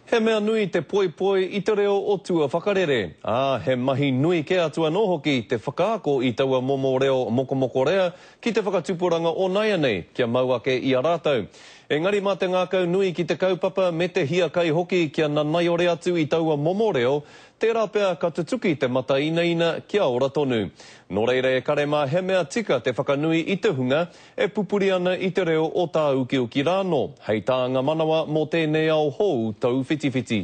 He mea nui te poipoi i te reo o tua whakarere, ā, he mahi nui kē atu anō hoki te whakaako i taua momo reo mokomokorea ki te whakatupuranga o nāianei kia mau ake i a rātou. Engari mā te ngākau nui ki te kaupapa me te hiakai hoki kia nanaiore atu i taua momo reo, tērā pea ka tutuki te matainaina kia ora tonu. Nō reira e kare mā he mea tika te whakanui i te hunga, e pupuri ana i te reo o tāukiuki rānō, hei tānga manawa mō tēnei ao hou tauwhitiwhiti.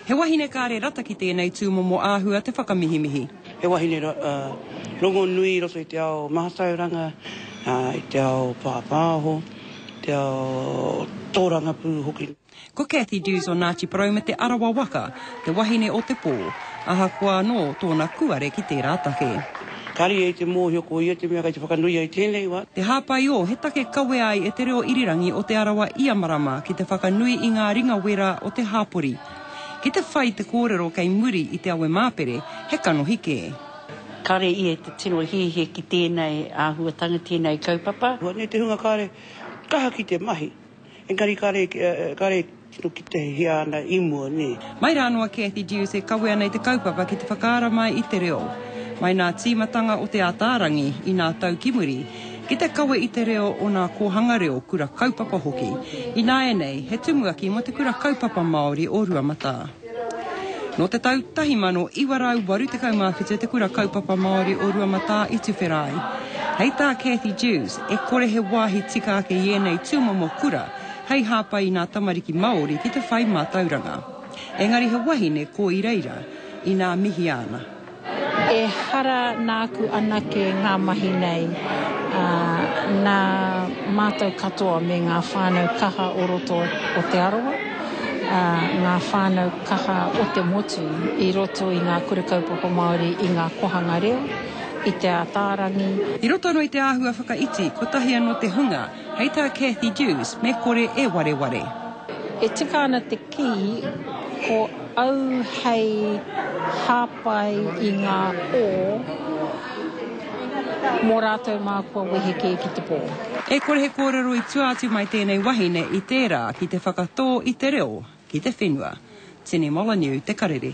He wahine kāre rata ki tēnei tūmomo āhua te whakamihimihi. He wahine rongonui i roto i te ao mātauranga, i te ao pāpāho, te ao tōrangapū hoki. Ko Cathy Dewes o Ngāti Porou me Te Arawa waka, te wahine o Te Pō, ahakoa anō tōna kūare ki tērā take. Ka riri ai te mōhio ko ia te mea kei te whakanoia i tēnei wā. Te Hāpaiō, he take kawea ai e te reo irirangi o Te Arawa ia marama ki te whakanui i ngā ringa wera o te hāpori. Ki te whai te kōrero kei muri i te awe māpere, he kanohi kē. Kāre ia i te tino hiahia ki tēnei āhuatanga, tēnei kaupapa. Hua nei te hunga kāre kaha ki te mahi. Engari kare, kare tino kite hia ana i mua, ne. Mai ra no a Cathy Dewes e kawe ana i te kaupapa ki te whakaara mai i te reo. Mai na timatanga o Te Ataarangi i na tau ki muri, ki te kawe i te reo o na kohanga reo kura kaupapa hoki. Inaenei, he tumuaki mo te kura kaupapa Maori o Ruamata. Nō te tau 1987 te Kura Kaupapa Māori o Ruamatā i tuwhera ai. Hei tā Cathy Dewes, e kore he wāhi tika ake i ēnei tūmomo kura hei hāpai i nā tamariki Māori ki te whai mātauranga. Engari he wahine ko i reira, inā mihia ana. Ehara nāku anake ngā mahi nei, ā, nā mātou katoa me ngā whānau kaha o roto o Te Arawa, ā, ngā whānau kaha o te motu i roto i ngā Kura Kaupapa Māori i ngā kohanga reo, i Te Ātaarangi, I roto anō i te āhua whakaiti, kotahi anō te hunga. Hei tā Cathy Dewes, me kore e wareware. E tika ana te kī, ko au hei hāpai i ngā pō mō rātou mā kua wehe kē ki te pō. E kore he kōrero i tua atu mai tēnei wahine i tērā ki te whakatō i te reo ki te whenua. Tini Molyneux te karere.